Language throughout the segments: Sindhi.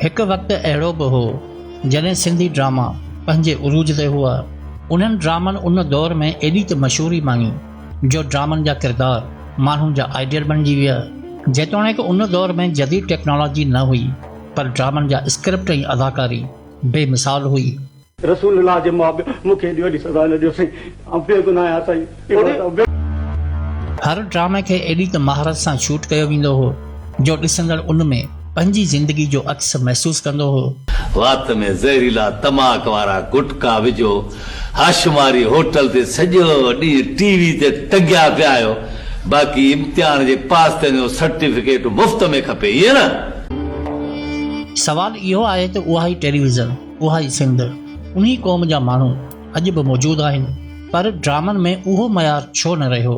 هڪ وقت اهڙو به هو جڏهن سنڌي ڊراما پنهنجي عروج تي هئا. انهن ڊرامن ان دور ۾ ايڏي ته مشهوري ماڻي جو ڊرامن جا ڪردار ماڻهن جا آئيڊيل بڻجي ويا. جيتوڻيڪ ان دور ۾ جديد ٽيڪنالاجي نه هئي پر ڊرامن جا اسڪرپٽ ۽ اداڪاري بي مثال هئي. رسول الله جي ماء پيو مون کي ايڏي وڏي سزا نه ڏيو سائين آئون بي گناهه آهيان سائين. هر ڊرامي کي ايڏي ته مهارت سان شوٽ ڪيو ويندو هو جو ڏسندڙ ان ۾ پنهنجي زندگي جو عڪس محسوس ڪندو هو. وات ۾ زهريلا تماڪ وارا گٽڪا وجهو هاشماري هوٽل تي سڄو ڏينهن ٽي وي تي ٽنگيا پيا آهيو باقي امتحان جي پاس ٿيڻ جو سرٽيفڪيٽ مفت ۾ کپي ائين نه. سوال اهو آهي ته اها ئي ٽيليويزن. اها ئي سنڌ، انهي قوم جا ماڻهو اڄ به موجود آهن، پر ڊرامن ۾ اهو معيار ڇو نه رهيو؟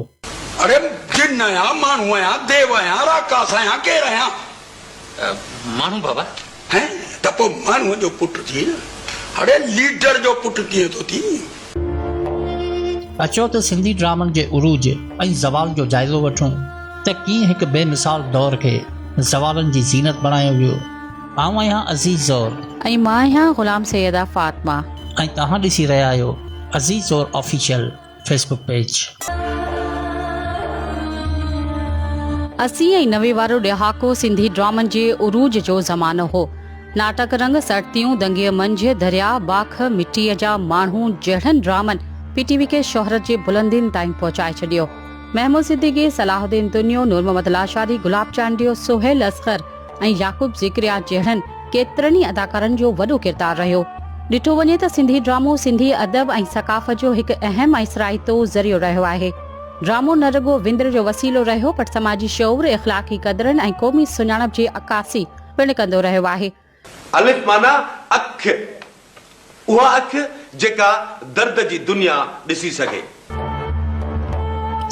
اڙي جن آهيان، ماڻهو آهيان، ديو آهيان، راڪاس آهيان، ڪير آهيان؟ ماڻهو بابا. هين ته پوء ماڻهوء جو پٽ ٿي نه، اڙي ليڊر جو پٽ ڪيئن ٿو ٿين؟ اچو ته سنڌي ڊرامن جي عروج ۽ زوال جو جائزو وٺون ته ڪيئن هڪ بي مثال دور کي زوالن جي زينت بڻايو ويو. آئون آهيان عزيز زور. ۽ مان آهيان غلام سيده فاطمه. ۽ توهان ڏسي رهيا آهيو عزيز زور آفيشل فيس بڪ پيج. اسي ۽ نوي وارو ڏهاڪو سنڌي ڊرامن جي عروج جو زمانو هو. ناٽڪ رنگ، سرتيون، دنگيء منجهه، درياء، باک، مٽيء جا ماڻهو جهڙن ڊرامن پي ٽي وي کي شهرت جي بلندين تائين پهچائي ڇڏيو. محمود صديقي، صلاح الدين دنيو، نورمحمد لاشاري، گلاب چانڊيو، سهيل اصغر، ۽ يعقوب ذڪريا جهڙن ڪيترن ئي اداڪارن جو وڏو ڪردار رهيو. ڏٺو وڃي ته سنڌي ڊرامو سنڌي ادب ۽ ثقافت جو هڪ اهم ۽ سرائتو ذريعو رهيو آهي. ڊرامو نه رڳو وندر جو وسيلو رهيو پر سماجي شعور، اخلاقي قدرن ۽ قومي سڃاڻپ جي عڪاسي پڻ ڪندو رهيو آهي. الف معنيٰ اک. اها اک جيڪا درد جي دنيا ڏسي سگهي.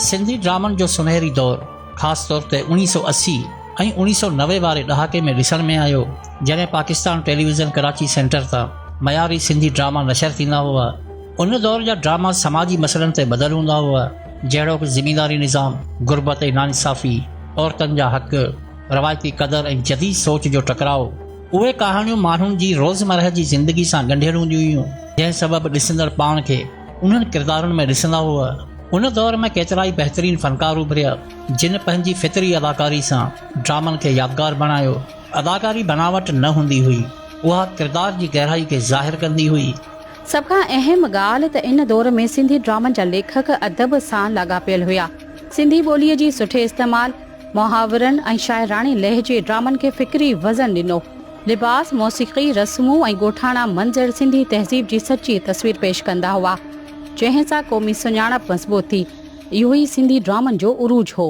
سنڌي ڊرامن جو سنهري دور خاص طور تي اوڻيهه سؤ اسي ۽ اوڻيهه سؤ نوي واري ڏهاڪي ۾ ڏسڻ ۾ آيو جڏهن پاڪستان ٽيليويزن ڪراچي سينٽر تان معياري سنڌي ڊراما نشر ٿيندا هئا ان دور جا ڊراما سماجي مسئلن تي ٻڌل هوندا هئا جهڙوڪ زمينداري نظام غربت ۽ ناانصافي عورتن جا حق روايتي قدر ۽ جديد سوچ جو ٽڪراء اهي ڪهاڻيون ماڻهن جي روزمرهه جي زندگي سان ڳنڍيل هونديون هيون، جنهن سبب ڏسندڙ پاڻ کي انهن ڪردارن ۾ ڏسندا هئا. ان دور ۾ ڪيترائي بهترين فنڪار اڀريا، جن پنهنجي فطري اداڪاري سان ڊرامن کي يادگار بڻايو. اداڪاري بناوٽ نه هوندي هئي، اها ڪردار جي گهرائي کي ظاهر ڪندي هئي. سڀ کان اهم ڳالهه ته ان دور ۾ سنڌي ڊرامن جا ليکڪ ادب سان لاڳاپيل هيا. سنڌي ٻوليء جي سٺي استعمال، محاورن ۽ شاعراڻي لهجي ڊرامن کي فڪري وزن ڏنو. لباس، موسيقي، رسمون ۽ ڳوٺاڻا منظر سنڌي تهذيب جي سچي تصوير پيش ڪندا هئا، جنهن سان قومي سڃاڻپ مضبوط ٿي. اهو ئي سنڌي ڊرامن جو عروج هو.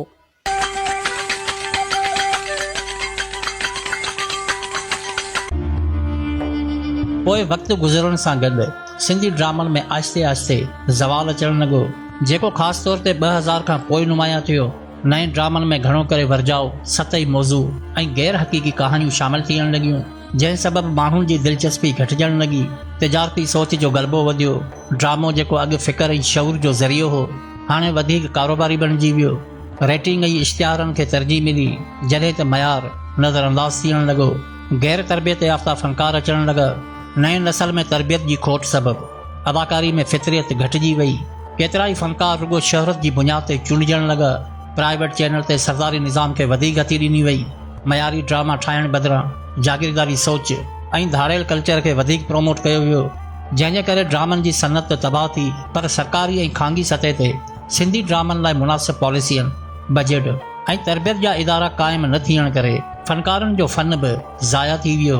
پوء وقت گذرڻ سان گڏ سنڌي ڊرامن ۾ آهستي آهستي زوال اچڻ لڳو، جيڪو خاص طور تي ٻه هزار کان پوء نمايان ٿيو. نئين ڊرامن ۾ گهڻو ڪري ورجاء، سطحي موضوع ۽ غير حقيقي ڪهاڻيون شامل ٿيڻ لڳيون، جنهن سبب ماڻهن جي دلچسپي گهٽجڻ لڳي، تجارتي سوچ جو غلبو وڌيو، ڊرامو جيڪو اڳ فڪر ۽ شعور جو ذريعو هو، هاڻي وڌيڪ ڪاروباري بڻجي ويو، ريٽنگ ۽ اشتهارن کي ترجيح ملي، جڏهن ته معيار نظر انداز ٿيڻ لڳو، غير تربيت يافته فنڪار اچڻ لڳا، نئين نسل ۾ تربيت جي کوٽ سبب. اداڪاري ۾ فطريت گهٽجي وئي، ڪيترائي فنڪار رڳو شهرت جي بنياد تي چونڊجڻ لڳا، پرائيويٽ چينل تي سرداري نظام کي وڌيڪ گتي ڏني وئي، معياري ڊراما ٺاهڻ بدران جاگيرداري سوچ ۽ ڌاڙيل ڪلچر کي وڌيڪ پروموٽ ڪيو ويو، جنهن جي ڪري ڊرامن جي صنعت ته تباهه ٿي پر سرڪاري ۽ خانگي سطح تي سنڌي ڊرامن لاء مناسب پاليسين، بجيٽ ۽ تربيت جا ادارا قائم نه ٿيڻ ڪري فنڪارن جو فن به ضايع ٿي ويو.